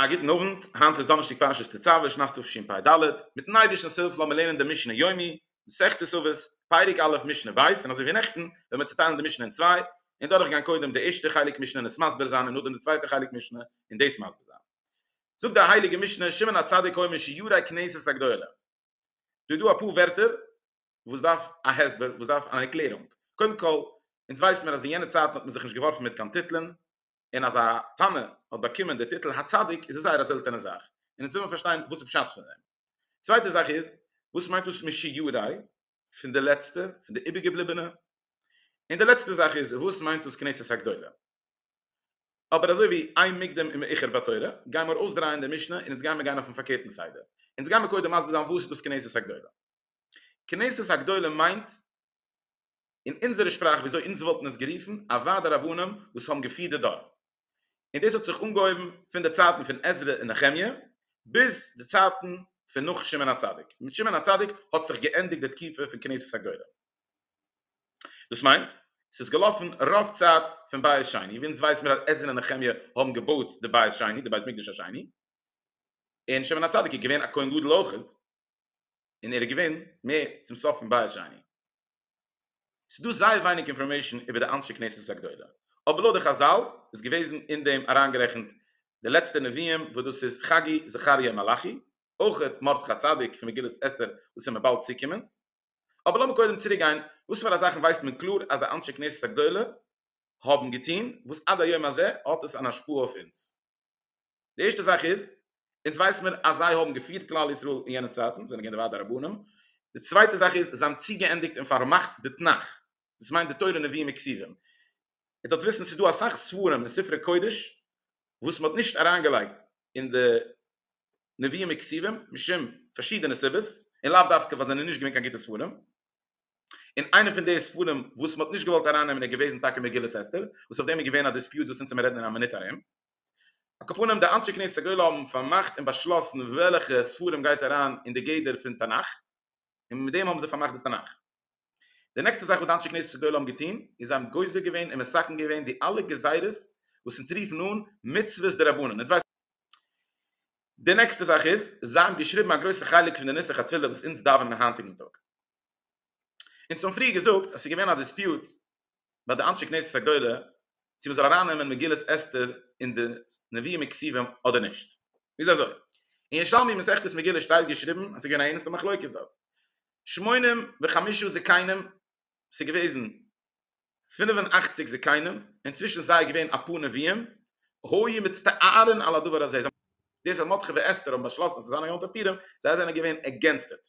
א גוטן אוונט, היינט איז דאנערשטאג פרשת תצוה, שנת תשפ ד, מיטן אייבערשטנס הילף לאמיר לערנען דעם משנה יומי, מסכת תצוות, פרק א' משנה ב', און אזוי ווי נעכטן וועל מיר צוטיילן די משנה אין צוויי, און דורכגיין קודם די ערשטע חלק משנה און עס מסביר זיין און נאכדעם די צווייטע חלק משנה און דאס מסביר זיין. זאגט די הייליגע משנה שמעון הצדיק אומר שיעורי כנסת הגדולה דא איז דא אפאר ווערטער וואס דארף א הסבר וואס דארף אן ערקלערונג קודם כל אונז ווייסן מיר אז אין יענע צייטן האט מען זיך נישט געווארפן מיט קיין טיטלען און אז א תנא האט באקומען די טיטל הצדיק איז עס זייער א זעלטענע זאך און אונז וויל מען פארשטיין וואס איז פשט פון דעם צווייטע זאך איז וואס מיינט דאס משיעורי פון די לעצטע פון די איבערגעבליבענע און די לעצטע זאך איז וואס מיינט דאס כנסת הגדולה אבער אזוי ווי איין מוקדם און מאוחר בתורה, גיימער אויסדרייען די משנה און אונז גיימער גיין אויפן פארקערטן סדר. אונז גיימער קודם מסביר זיין וואס איז דאס כנסת הגדולה. כנסת הגדולה מיינט אין אונזערע שפראך וויאזוי אונז וואלטן עס גערופן א ועד הרבנים וואס האבן געפירט די דור. און דאס האט זיך אנגעהויבן פון די צייטן פון עזרא און נחמיה ביז די צייטן פון נאך שמעון הצדיק. מיט שמעון הצדיק האט זיך געענדיגט די תקופה פון כנסת הגדולה. דאס מיינט ס'איז געלאפן רוב צייט פון בית שני, ווי אונז ווייסן מיר אז עזרא און נחמיה האבן געבויט די בית שני, די בית מקדש השני, און שמעון הצדיק איז געווען א כהן גדול אויכעט, און ער איז געווען מער צום סוף פון בית שני. ס'איז דא זייער ווייניג אינפארמעישן איבער די אנשי כנסת הגדולה, אבער לויט די חזל איז געוועזן אין דעם אריינגערעכנט די לעצטע נביאים וואס דאס איז חגי, זכריה און מלאכי, אויכעט מרדכי צדיק פון מגילת אסתר וואס איז מיר באלד צוקומען, אבער לאמיר קודם צוריק גיין, וואס פאר א זאכן ווייסט מען קלאר אז די אנשי כנסת הגדולה האבן געטון, וואס עד היום הזה האט עס אן השפעה אויף אונז? די ערשטע זאך איז, אונז ווייס מיר אז זיי האבן געפירט כלל ישראל אין יענע צייטן, זענען געווען די ועד הרבנים, די צווייטע זאך איז, זיי האבן צוגעענדיגט און פארמאכט די תנך, דאס מיינט די תורה נביאים וכסיבים. איר זאלטס וויסן, ס'איז דא אסאך ספרים און ספרי קודש וואס מ'האט נישט אריינגעלייגט אין די נביאים וכתובים משום פארשידענע סיבות און לאו דווקא ווייל זיי זענען נישט געווען קיין גוטע ספרים און איינע פון די ספרים וואס מען האט נישט געוואלט ארייננעמען איז געוועזן טאקע מגילת אסתר וואס אויף דעם איז געווען א דיספיוט וואס אונז וועלן רעדן אין א מינוט ארום. על כל פנים די אנשי כנסת הגדולה האבן פארמאכט און באשלאסן וועלכע ספרים גייט אריין אין די גדר פון תנך. און מיט דעם האבן זיי פארמאכט די תנך. די נעקסטע זאך וואס די אנשי כנסת גדולה האבן געטון איז זיי האבן גוזר געווען און מסכם געווען די אלע גזירות וואס אונז רופן אן מצוות דרבנן. די נעקסטע זאך איז זיי האבן געשריבן א גרויסע חלק פון די נוסח התפילה וואס אונז דאווענען היינטיגן טאג. אונז האבן פריער געזאגט אז ס'איז געווען א דיספיוט ביי די אנשי כנסת הגדולה צו מען זאל ארייננעמען מגילת אסתר אין די נביאים און כתובים אדער נישט איז אזוי אין ירושלמי מסכת מגילה שטייט געשריבן אז ס'איז געווען א ערנסטע מחלוקת דארט שמונים וחמישה זקנים ס'איז געוועזן פֿינף און אַכציק זקנים און צווישן זיי איז געווען אפאר נביאים היו מצטערין על הדבר הזה דאס אז מרדכי ואסתר האבן באשלאסן אז ס'זאל זיין א יום טוב פורים זיי זענען געווען עגענסט איט.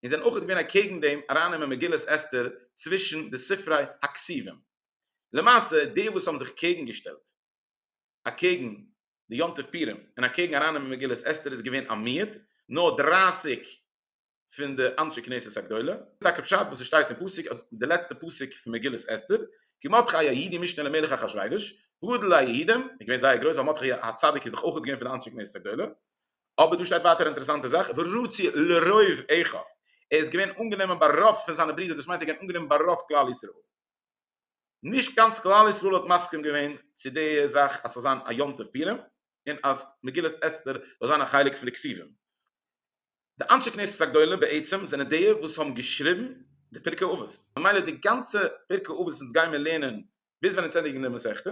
און זענען אויך געווען אקעגן דעם ארייננעמען מגילת אסתר צווישן די ספרי הכסיבים. למעשה די וואס האבן זיך קעגן געשטעלט אקעגן די יום טוב פורים און אקעגן ארייננעמען מגילת אסתר איז געווען א מיעוט, נאר דרײַסיק פון די אנשי כנסת הגדולה. טאקע פשט וואס עס שטייט אין פסוק אז די לעצטע פסוק פון מגילת אסתר, כי מרדכי היהודי משנה למלך אחשורוש, גדול היהודים, איז געווען זייער גרויס ווייל מרדכי הצדיק איז דאך אויך געווען פון די אנשי כנסת הגדולה, אבער דא שטייט ווייטער א אינטערעסאנטע זאך, ורצוי לרוב אחיו, ער איז געווען אנגענומען ביי רוב פון זיינע ברידער, דאס מיינט ער איז געווען אנגענומען ביי רוב כלל ישראל. נישט גאנץ כלל ישראל האט מסכים געווען צו די זאך אז ס'זאל זיין א יום טוב פורים, און אז מגילת אסתר זאל זיין א חלק פון די כתובים. די אנשי כנסת הגדולה בעצם זענען די וואס האבן געשריבן די פרקי אבות, ממילא די גאנצע פרקי אבות וואס אונז גיימיר לערנען ביז ווען אונז ענדיגן די מסכתא,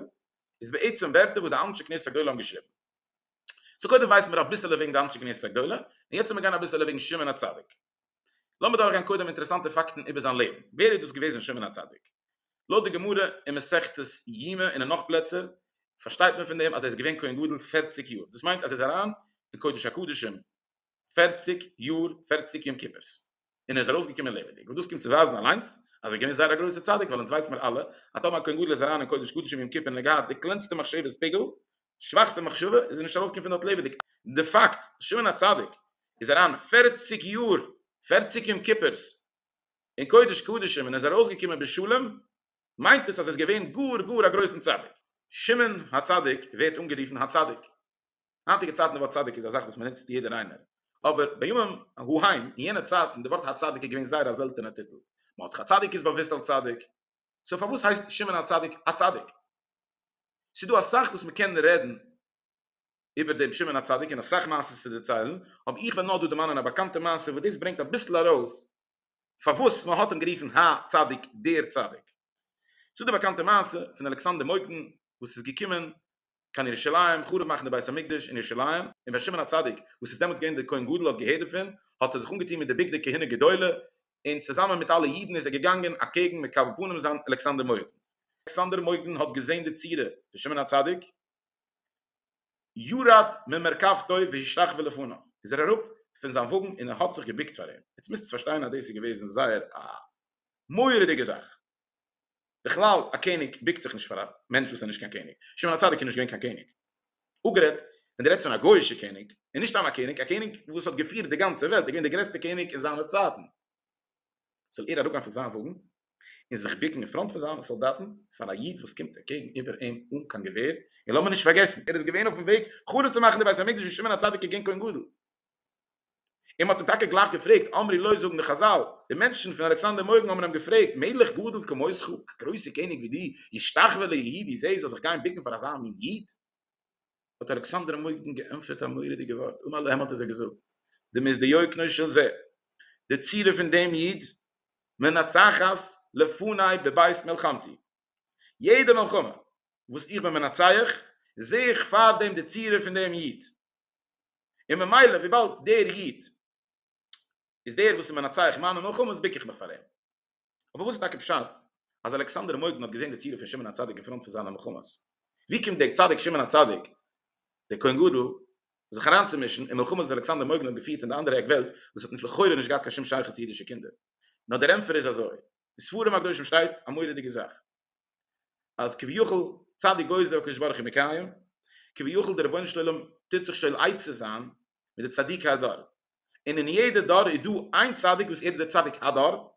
איז בעצם ווערטער וואס די אנשי כנסת הגדולה האבן געשריבן. סאו קודם ווייסן מיר אביסעלע וועגן די אנשי כנסת הגדולה, און יעצט וועלן מיר גיין אביסעלע וועגן שמעון הצדיק. לאמיר דורכגיין קודם אינטערעסאנטע פאקטן איבער זיין לעבן. ווער איז דאס געוועזן שמעון הצדיק? לויט די גמרא אין מסכת יומא און אין נאך פלעצער פארשטייט מען פון דעם אז ער איז געווען כהן גדול פֿערציק יאר, דאס מיינט אז ער איז אריין אין קודש הקדשים, פֿערציק יאר פֿערציק יום כיפור'ס און ער איז ארויסגעקומען לעבעדיג וואס דאס קומט צו ווייזן אליינס אז ער געווען זייער א גרויסע צדיק ווייל אונז ווייסן מיר אלע אז טאמער א כהן גדול איז אריין אין קודש קדשים יום כיפור און ער געהאט די קלענסטע מחשבות פיגעל שוואכסטע מחשבה איז ער נישט ארויסגעקומען פון דארט לעבעדיג די פאקט אז שמעון הצדיק איז אריין פֿערציק יאר פֿערציק יום כיפור'ס אין קודש קדשים און ער איז ארויסגעקומען בשלום מיינט עס אז ער איז געווען גאר גאר א גרויסן צדיק. שמעון הצדיק ווערט אנגערופן הצדיק היינטיגע צייטן די ווארט צדיק איז א זאך וואס מען נוצט יעדער איינער, אבער בימים ההם אין יענע צייטן די ווארט הצדיק איז געווען זייער א זעלטענע טיטל, מען האט הצדיק איז באוואוסט אלס צדיק, סאו פארוואס הייסט שמעון הצדיק א צדיק? ס'איז דא אסאך וואס מען קען רעדן איבער דעם שמעון הצדיק און אסאך מעשיות צו דערציילן, אבער איך וועל נאר דא דערמאנען א באקאנטע מעשה וואס דאס ברענגט אביסל ארויס פארוואס מען האט אים גערופן הא צדיק דער צדיק. ס'איז דא די באקאנטע מעשה פון אלכסנדר מוקדן וואס איז געקומען קיין ירושלים חרוב מאכן די בית המקדש אין ירושלים, און ווען שמעון הצדיק וואס איז דעמאלטס געווען דער כהן גדול האט געהערט דערפון האט ער זיך אנגעטון מיט די בגדי כהונה גדולה און צוזאמען מיט אלע אידן איז ער געגאנגען אקעגן מקבל פנים זיין אלכסנדר מוקדון. אלכסנדר מוקדון האט געזען די צורה פון שמעון הצדיק, ירד ממרכבתו והשתחווה לפניו, איז ער אראפ פון זיין וואגן און ער האט זיך געבוקט פאר אים, יעצט מוזטס פארשטיין אז דאס איז געוועזן זייער א מורא'דיגע זאך, בכלל א קעניג ביקט זיך נישט פאר א מענטש וואס איז נישט קיין קעניג, שמעון הצדיק איז נישט געווען קיין קעניג, אפגערעדט ווען די רעדסט פון א גוי'אישע קעניג, און נישט סתם א קעניג, א קעניג וואס האט געפירט די גאנצע וועלט, ער איז געווען די גרעסטע קעניג אין זיינע צייטן, זאל ער אראפגיין פון זיין וואגן און זיך ביקן אין פראנט פון זיינע סאלדאטן פאר א איד וואס קומט אקעגן איבער אים אן קיין געווער, און לאמיר נישט פארגעסן ער איז געווען אויפן וועג חרוב צו מאכן די בית המקדש ווי שמעון הצדיק איז געווען כהן גדול. און מ'האט אים טאקע גלייך געפרעגט, אמרי לוי זאגן די חזל, די מענטשן פון אלכסנדר מוקדון האבן אים געפרעגט, מלך גדול כמותך, א גרויסע קעניג ווי דו, ישתחווה ליהודי, ווי זי זאל זיך גיין בוקן פאר אזא מין איד? האט אלכסנדר מוקדון געענטפערט א מורא'דיגע ווארט, אמר להם האט ער זיי געזאגט, דמות דיוקנו של זה, די צורה פון דעם איד, מנצחת לפני בבית מלחמתי, יעדע מלחמה וואס איך בין מנצח, זעה איך פארדעם די צורה פון דעם איד, און ממילא וויבאלד דער איד איז דער וואס איז מנצח מיינע מלחמות בוק איך מיך פאר אים. אבער וואס איז טאקע פשט אז אלכסנדר המוגן האט געזען די צירוף פון שמעון הצדיק אין פראנט פון זיינע מלחמות? ווי קומט דער צדיק שמעון הצדיק דער כהן גדול זיך אריינצומישן אין מלחמות וואס אלכסנדר המוגן האט געפירט אין די אנדערע עק וועלט וואס האט לכאורה נישט געהאט קיין שום שייכות צו אידישע קינדער? נאר דער ענטפער איז אזוי, אין ספרים הקדושים שטייט א מורא'דיגע זאך. אז כביכול צדיק גוזר והקדוש ברוך הוא מקיים, כביכול דער רבונו של עולם טוט זיך שואל עצה זיין מיט די צדיקי הדור, און אין יעדע דור איז דא איין צדיק וואס ער איז דער צדיק הדור,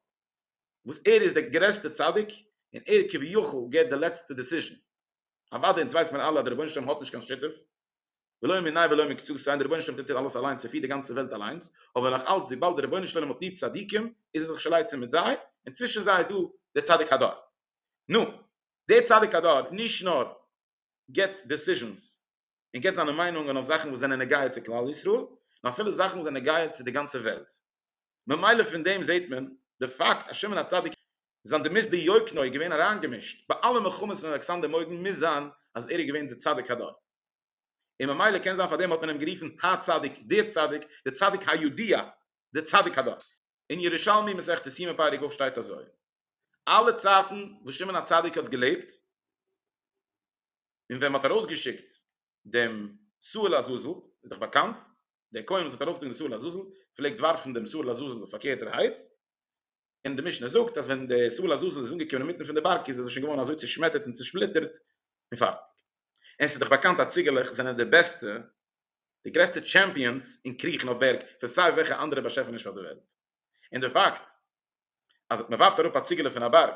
וואס ער איז דער גרעסטער צדיק, און ער כביכול געבט די לעצטע דעסיזשען, אוודאי אונז ווייסט מיר אלע אז דער רבונו של עולם האט נישט קיין שותף, ולא מנין ולא מקצות סיין דער רבונו של עולם טוט אלעס אליינס ער פירט די גאנצע וועלט אליינס אבער נאך אלץ וויבאלד דער רבונו של עולם האט ליב צדיקים איז ער זיך שלייצען מיט זיי און צווישן זיי איז דא דער צדיק הדור נו דער צדיק הדור נישט נאר געט דעסיזשענס און געט זיינע מיינונגען אויף זאכן וואס זענען נוגע צו כלל ישראל נאר אפילו זאכן וואס זענען נוגע צו די גאנצע וועלט ממילא פון דעם זעהט מען די פאקט אז שמעון הצדיק זיין די מיסדי יקנו איז געווען אריינגעמישט ביי אלע מלחמות פון אלכסנדר מוקדן מוז זיין אז ער איז געווען די צדיק הדור און ממילא קען זיין פאר דעם האט מען אים גערופן הצדיק דער צדיק די צדיק היודע די צדיק הדור. אין ירושלמי מסכת סימן פרק ו' שטייט אזוי אלע צייטן וואס שמעון הצדיק האט געלעבט און ווען מען האט ארויסגעשיקט דעם שאול לעזאזל, איז דאך באקאנט, דער כהן וואס האט ארויפגעטון די שאול לעזאזל, פלעגט ווארפן דעם שאול לעזאזל פארקערטערהייט, און די משנה זאגט אז ווען דער שאול לעזאזל איז אנגעקומען אינמיטן פון די בארג, איז ער שוין געווארן אזוי צעשמעטערט און צעשפליטערט, און פארטיג. און ס'איז דאך באקאנט אז ציגעלעך זענען די בעסטע, די גרעסטע טשעמפיאנס אין קריכן אויף בערג, פון סיי וועלכע אנדערע באשעפעניש אויף דער וועלט. און דער פאקט אז מ'ווארפט אראפ א ציגעלע פון א בארג,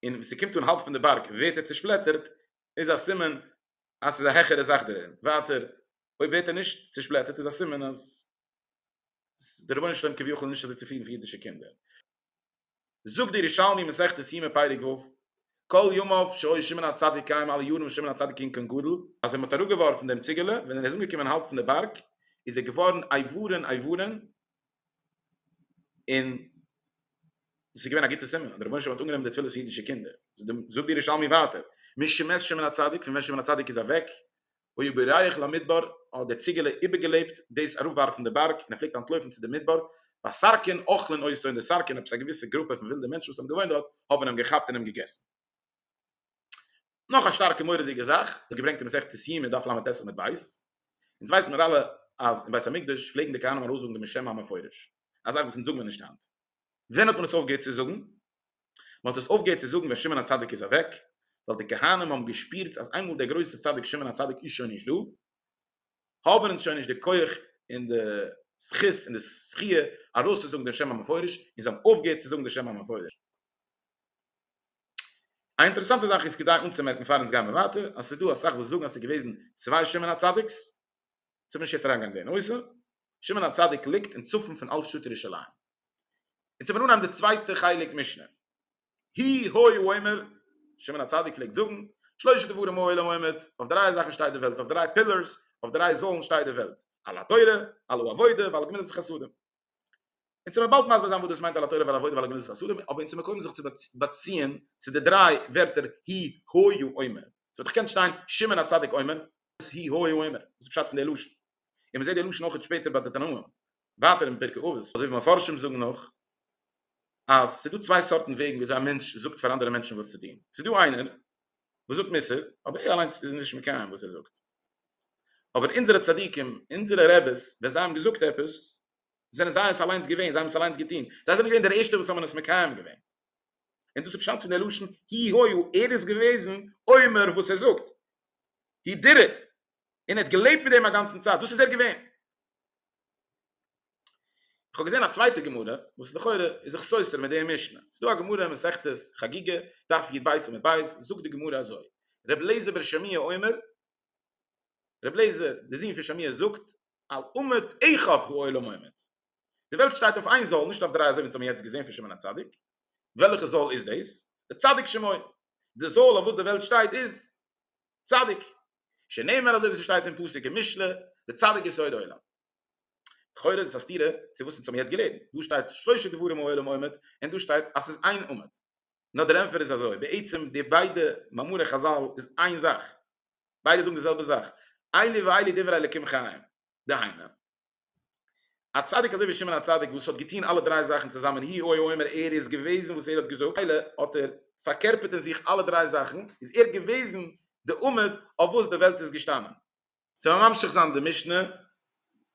און ווען ס'קומט אן האלב פון די בארג ווערט ער צעשפלעטערט, איז א סימן אז ס'איז א העכערע זאך דערין, ווייטער אויב ווערט ער נישט צושפלעטערט איז א סימן אז דער רבונו של עולם כביכול נישט אזוי צופרידן פון אידישע קינדער. זאגט דער ירושלמי מסכת יומא פרק ו', כל ימיו שהיה שמעון הצדיק קיים אלע יארן וואס שמעון הצדיק איז געקומען גדל, אז מען האט אראפגעווארפן דעם ציגעלע, ווען ער איז אנגעקומען האלב פון די בארג, איז ער געווארן אייוועלען אייוועלען, און עס איז געווען א גוטע סימן אז דער רבונו של עולם האט אנגענומען די תפילות פון אידישע קינדער, זאגט דער ירושלמי ווייטער, מי שמס שמן הצדיק, פון ווען שמן הצדיק איז אוועק, היו בורח למדבר, האט דער ציגעלע איבערגעלעבט דאס אראפווארפן די בארג, און ער פלעגט אנטלויפן צו די מדבר, והסרקין אוכלין אותו, און די סרקין, עפעס א געוויסע גרופע פון ווילדע מענטשן וואס האבן געוואוינט דארט, האבן אים געכאפט און אים געגעסן. נאך א שטארקע מורא'דיגע זאך וואס געברענגט אין מסכת סיום אין דף לט עמוד ב', אונז ווייסן מיר אלע אז אין בית המקדש פלעגן די כהנים ארויס זאגן דעם שם המפורש, א זאך וואס אונז זאגן מיר נישט היינט. ווען האט מען עס אויפגעהערט צו זאגן? מען האט עס אויפגעהערט צו זאגן ווען שמעון הצדיק איז אוועק, ווייל די כהנים האבן געשפירט אז איינמאל דער גרויסער צדיק שמעון הצדיק איז שוין נישט דא, האבן אונז שוין נישט די כח און די זכות און די זכיה ארויסצוזאגן דעם שם המפורש, און זיי האבן אויפגעהערט צו זאגן דעם שם המפורש. א אינטערעסאנטע זאך איז כדאי אנצומערקן פאר אונז גייען ווייטער אז ס'איז דא אסאך וואס זאגן אז ס'איז געוועזן צוויי שמעון הצדיק'ס, צו נישט יעצט אריינגיין אין די נושא, שמעון הצדיק ליגט אין צפון פון אלטשטאט ירושלים. און צו מיר אנהייבן די צווייטע חלק משנה, הי' הוי אומר, שמעון הצדיק פלעגט זאגן, שלושה דברים העולם עומד, אויף דריי זאכן שטייט די וועלט, אויף דריי פילערס, אויף דריי זוילן שטייט די וועלט, על התורה, על העבודה ועל גמילות החסדים. אונז זעמיר באלד מסביר זיין וואס דאס מיינט על התורה ועל העבודה ועל גמילות חסדים, אבער אונז מקוים זיך צו באציען צו די דריי ווערטער הי הוי אומר, ס'וואלט דאך געקענט שטיין שמעון הצדיק אומר, אז הי הוי אומר, וואס איז פשט פון די לשון? און מ'זעט די לשון אויך שפעטער ביי די תנאים, ווייטער אין פרקי אבות, אזוי ווי מפרשים זאגן נאך, אז ס'איז דא צוויי סארטן וועגן וויאזוי א מענטש זאגט פאר אנדערע מענטשן וואס צו טון, ס'איז דא איינער, וואס זאגט מוסר, אבער ער אליינס איז נישט מקיים וואס ער זאגט. אבער אונזערע צדיקים, אונזערע רעבעס, ווען זיי האבן געזאגט עפעס, זענען זיי עס אליינס געווען, זיי האבן עס אליינס געטון, זיי זענען געווען די ערשטע וואס האבן עס מקיים געווען. און דאס איז פשט פון די לשון הי' היו, ער איז געוועזן אומר וואס ער זאגט, הי דיד איט, און ער האט געלעבט מיט דעם א גאנצן צייט, דאס איז ער געווען. איך האב געזען א צווייטע גמרא וואס לכאורה איז זיך סותר מיט די משנה, ס'איז דא א גמרא אין מסכת חגיגה, דף י ב עמוד ב', זאגט די גמרא אזוי, ר' אליעזר בן שמעי' אומר, ר' אליעזר די זון פון שמעי' זאגט, על עמוד אחד הוא עולם עומד, די וועלט שטייט אויף איין זאל נישט אויף דריי אזוי ווי אונז האבן יעצט געזען פון שמעון הצדיק, וועלכע זאל איז דאס? די צדיק שמעון, די זאל אויף וואס די וועלט שטייט איז צדיק. שנאמר אזוי ווי ס'שטייט אין פסוק אין משלי, די צדיק יסוד העולם. לכאורה איז עס א סתירה צו וואס אונז האבן יעצט געלערנט, דא שטייט שלושה דברים העולם עומד, און דא שטייט אז ס'איז איין עומד. נאר דער ענפער איז אזוי, בעצם די ביידע מאמרי חזל איז איין זאך, ביידע זאגן די זעלבע זאך, אלי ואלי דברי אלקים חיים, דהיינו, א צדיק אזוי ווי שמעון הצדיק וואס האט געטוהן אלע דריי זאכן צוזאמען הי הוי אומר ער איז געוועזן וואס ער האט געזאגט ממילא האט ער פארקערפערט אין זיך אלע דריי זאכן איז ער געוועזן די עמוד אויף וואס די וועלט איז געשטאנען. צו ממשיך זיין די משנה,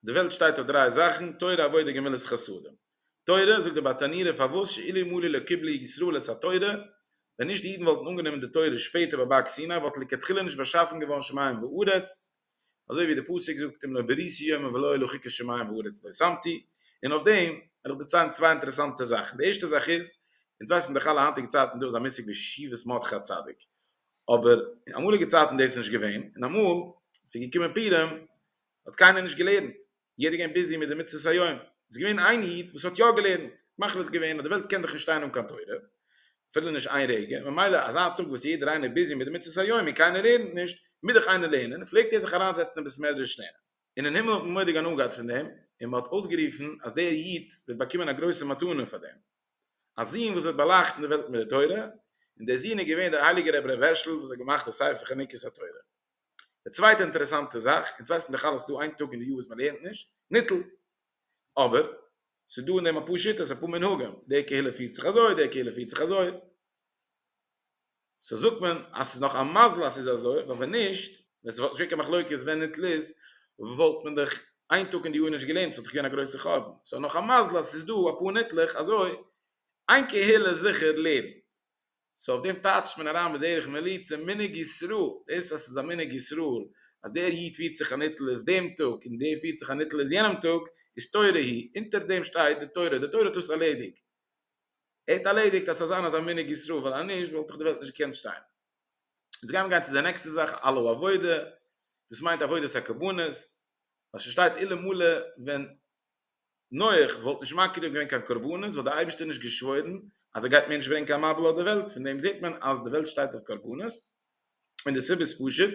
די וועלט שטייט אויף דריי זאכן, תורה עבודה גמילות חסדים. תורה, זאגט דער באטאניר ר פארוואס שאילו מלא לא קיבלו ישראל את התורה, ווען נישט די אידן וואלטן אנגענומען די תורה שפעטער ביי בארג סיני וואלט לכתחילה נישט באשאפן געווארן שמים וארץ, אזוי ווי די פסוק זאגט אם לא בריתי יומם ולא היו לוחיקי שמים וארץ לא שמתי, און אויף דעם וועל איך דערציילן צוויי אינטערעסאנטע זאכן, די ערשטע זאך איז, אונז ווייס פון דער חלה היינטיגע צייטן דא איז א מושג ווי שיבת מרדכי הצדיק, אבער אין אמאליגע צייטן איז דאס נישט געווען, און אמאל עס איז געקומען פורים האט קיינער נישט געלערנט, יעדער געווען ביזי מיט די מצוות היום, איז געווען איין איד וואס האט יא געלערנט, מחליט געווען אז די וועלט קען דאך נישט שטיין אן קיין תורה, אפילו נישט איין רגע, ממילא אזא טאג וואס יעדער איינער איז ביזי מיט די מצוות היום און קיינער לערנט נישט, מוז דאך איינער לערנען, פלעגט ער זיך אריינזעצן אין בית מדרש לערנען. און אין הימל האט מען מורא'דיג הנאה געהאט פון דעם, און מען האט אויסגערופן אז דער איד וועט באקומען א גרויסע מתנה פאר דעם, א זון וואס וועט באלייכטן די וועלט מיט די תורה, און דער זון איז געווען דער הייליגער רבי ר' הערשל וואס האט געמאכט די ספר חנוכת התורה. די צווייטע אינטערעסאנטע זאך, אונז ווייסן דאך אלעס ס'איז דא איין טאג אין די יאר וואס מ'לערנט נישט ניטל, אבער ס'איז דא אין דעם אפאר שיטות, אפאר מנהגים, די קהילה פירט זיך אזוי, די קהילה פירט זיך אזוי, סאו זאגט מען אז ס'איז נאך א מזל אז ס'איז אזוי, ווייל ווען נישט, ווען ס'וואלט נישט געווען קיין מחלוקת ווען ניטל איז, וואלט מען דאך איין טאג אין די יאר נישט געלערנט, ס'וואלט דאך געווען א גרויסע חורבן, סאו נאך א מזל אז ס'איז דא אפאר ניטלעך, אזוי איין קהילה זיכער לערנט, סאו אויף דעם טייטשט מען אריין בדרך מליצה מנהג ישראל, דאס אז ס'איז א מנהג ישראל אז דער איד פירט זיך א נטלת דעם טאג און דער פירט זיך א נטלת יענעם טאג איז תורה היא, אונטער דעם שטייט די תורה, די תורה האט דאס ארלעדיגט, ער האט ארלעדיגט אז ס'זאל זיין אזא מנהג ישראל ווייל אז נישט וואלט דאך די וועלט נישט געקענט שטיין. יעצט גייען מיר גיין צו די נעקסטע זאך אלא הוא עבודה, דאס מיינט עבודת הקרבנות, ווייל ששטייט אלא מלא ווען נח וואלט נישט מקריב געווען קיין קרבנות וואלט דער אייבערשטער נישט געשוואוירן אז ער גייט מער נישט ברענגען קיין מבול אויף די וועלט, פון דעם זעט מען אז די וועלט שטייט אויף קרבנות, און די סיבה איז פשוט,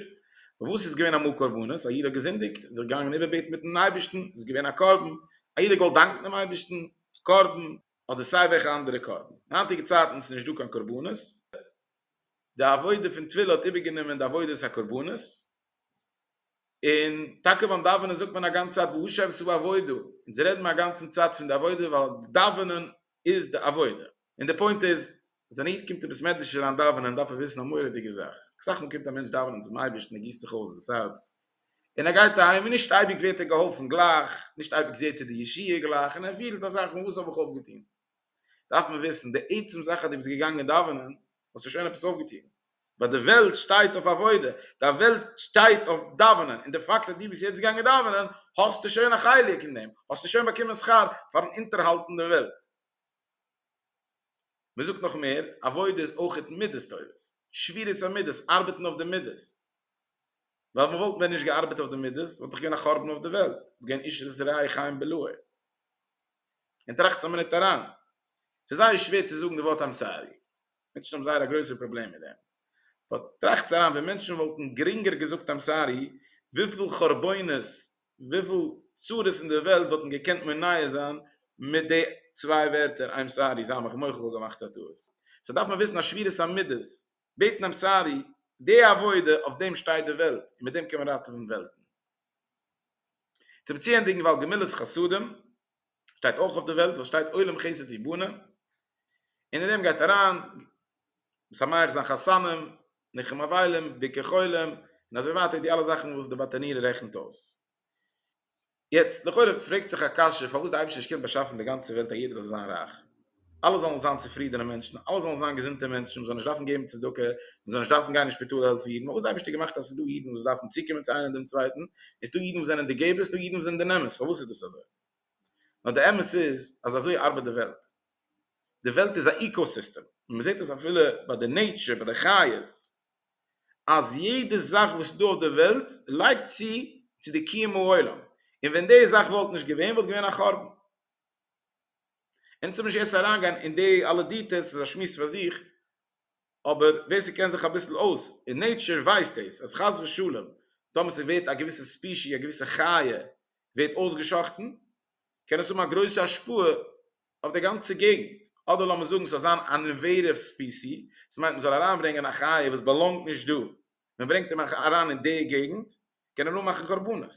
וואס איז געווען אמאל קרבנות? א איד האט געזינדיגט, איז ער געגאנגען איבערבעטן מיטן אייבערשטן, איז געווען א קרבן, א איד האט געוואלט דאנקן דעם אייבערשטן, קרבן, אדער סיי וועלכע אנדערע קרבן. אין היינטיגע צייטן איז נישט דא קיין קרבנות, די עבודה פון טבילה האט איבערגענומען די עבודת הקרבנות, און טאקע ביים דאווענען זאגט מען א גאנץ צייט והוא שעשה בעבודה, אונז רעדן מיר א גאנצן צייט פון די עבודה ווייל דאווענען איז די עבודה, און די פוינט איז אז ווען א איד קומט אין בית מדרש אריין דאווענען דארף ער וויסן א מורא'דיגע זאך, אסאך מאל קומט א מענטש דאווענען צום אייבערשטן ער גיסט זיך אויס דאס הארץ און ער גייט אהיים און נישט אייביג ווערט ער געהאלפן גלייך, נישט אייביג זעט ער די ישועה גלייך און ער פילט א זאך פון וואס האב איך אויפגעטון. דארף מען וויסן די עצם זאך אז דו ביסט געגאנגען דאווענען האסטו שוין עפעס אויפגעטון, ווייל די וועלט שטייט אויף עבודה, די וועלט שטייט אויף דאווענען, און די פאקט אז דו ביסט יעצט געגאנגען דאווענען האסטו שוין א חלק אין דעם, האסטו שוין באקומען שכר פארן אונטערהאלטן די וועלט. מען זאגט נאך מער, עבודה איז אויכעט מידות טובות, שבירת המידות, ארבעטן אויף די מידות, ווייל וואלט ווען נישט געארבעט אויף די מידות וואלט דאך געווען א חורבן אויף די וועלט, וואלט געווען איש רע חיים בלעו. און טראכטס א מינוט אריין, ס'איז זייער שווער צו זאגן די ווארט איים סארי, מענטשן האבן זייער א גרויסע פראבלעם מיט דעם, באט טראכטס אריין ווען מענטשן וואלטן גרינגער געזאגט איים סארי, וויפיל חרבונות, וויפיל צרות אין די וועלט וואלטן געקענט מונע זיין מיט די צוויי ווערטער איים סארי, זיי מיך מוחל כ'האב געמאכט א טעות. סאו דארף מען וויסן אז שבירת המידות, בעטן איים סארי, די עבודה אויף דעם שטייט די וועלט, און מיט דעם קען מען ראטעווען וועלטן. צו באציענדיגן ווייל גמילות חסדים שטייט אויך אויף די וועלט וואס שטייט עולם חסד יבנה און אין דעם גייט אריין משמח זיין חתנים ניחום אבלים ביקור חולים און אזוי ווייטער די אלע זאכן וואס די באטעניער רעכנט אויס. יעצט לכאורה פרעגט זיך א קשיא פארוואס די אייבערשטער נישט קענען באשאפן די גאנצע וועלט אז יעדער זאל זיין רייך? אלע זאלן זיין צופרידענע מענטשן, אלע זאלן זיין געזונטע מענטשן, מען זאל נישט דארפן געבן צדקה, מען זאל נישט דארפן גיין אין שפיטאל העלפן אידן, פארוואס די אייבערשטער האט געמאכט אז עס איז דא אידן וואס דארפן צוקומען צו איינער דעם צווייטן, און עס איז דא אידן וואס זענען די געבערס, עס איז דא אידן וואס זענען די נעמערס, פארוואס איז דאס אזוי? נאר די אמת איז אז אזוי ארבעט די וועלט, די וועלט איז א איקאסיסטעם, און מען זעט עס אפילו ביי די נעיטשער, ביי די חיות, אז יעדע זאך וואס איז דא אויף די וועלט לייגט צו צו די קיום העולם, און ווען די זאך וואלט נישט געווען וואלט געווען א חורבן. אונז האב נישט יעצט אריינגיין אין די אלע דיטעלס ס'איז א שמועס פאר זיך, אבער ווער ס'קען זיך אביסל אויס אין נעטשער ווייסט דאס אז חס ושלום טאמער ס'ווערט א געוויסע ספישי א געוויסע חיה ווערט אויסגעשחטן קען עס האבן א גרויסע השפעה אויף די גאנצע געגנט, אדער לאמיר זאגן ס'זאל זיין אן אינוועידעוו ספיסי, עס מיינט מ'זאל אריינברענגען א חיה וואס באלאנגט נישט דא, מ'ברענגט אים אריין אין די געגנט קען ער אנמאכן חרבנות.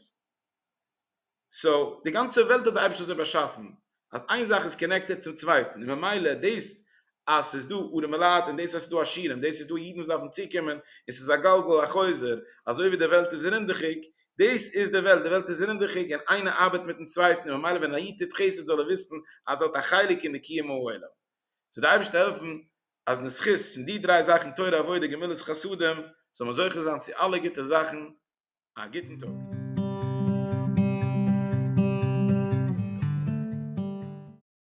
סאו די גאנצע וועלט האט די אייבערשטער אזוי באשאפן אז איין זאך איז קאנעקטעד צום צווייטן און ממילא דאס אז ס'איז דא ארעמע לייט און דאס אז ס'איז דא עשירים דאס איז דא אידן וואס דארפן צוקומען און ס'איז א גלגל החוזר אזוי ווי די וועלט איז רינדעכיג דאס איז די וועלט די וועלט איז רינדעכיג און איינער ארבעט מיטן צווייטן און ממילא ווען א איד טוט חסד זאל ער וויסן אז ער האט א חלק אין די קיום העולם זאל די אייבערשטער העלפן אז אין די זכות פון די דריי זאכן תורה עבודה גמילות חסדים זאל מען זוכה זיין צו אלע גוטע זאכן. א גוטן טאג.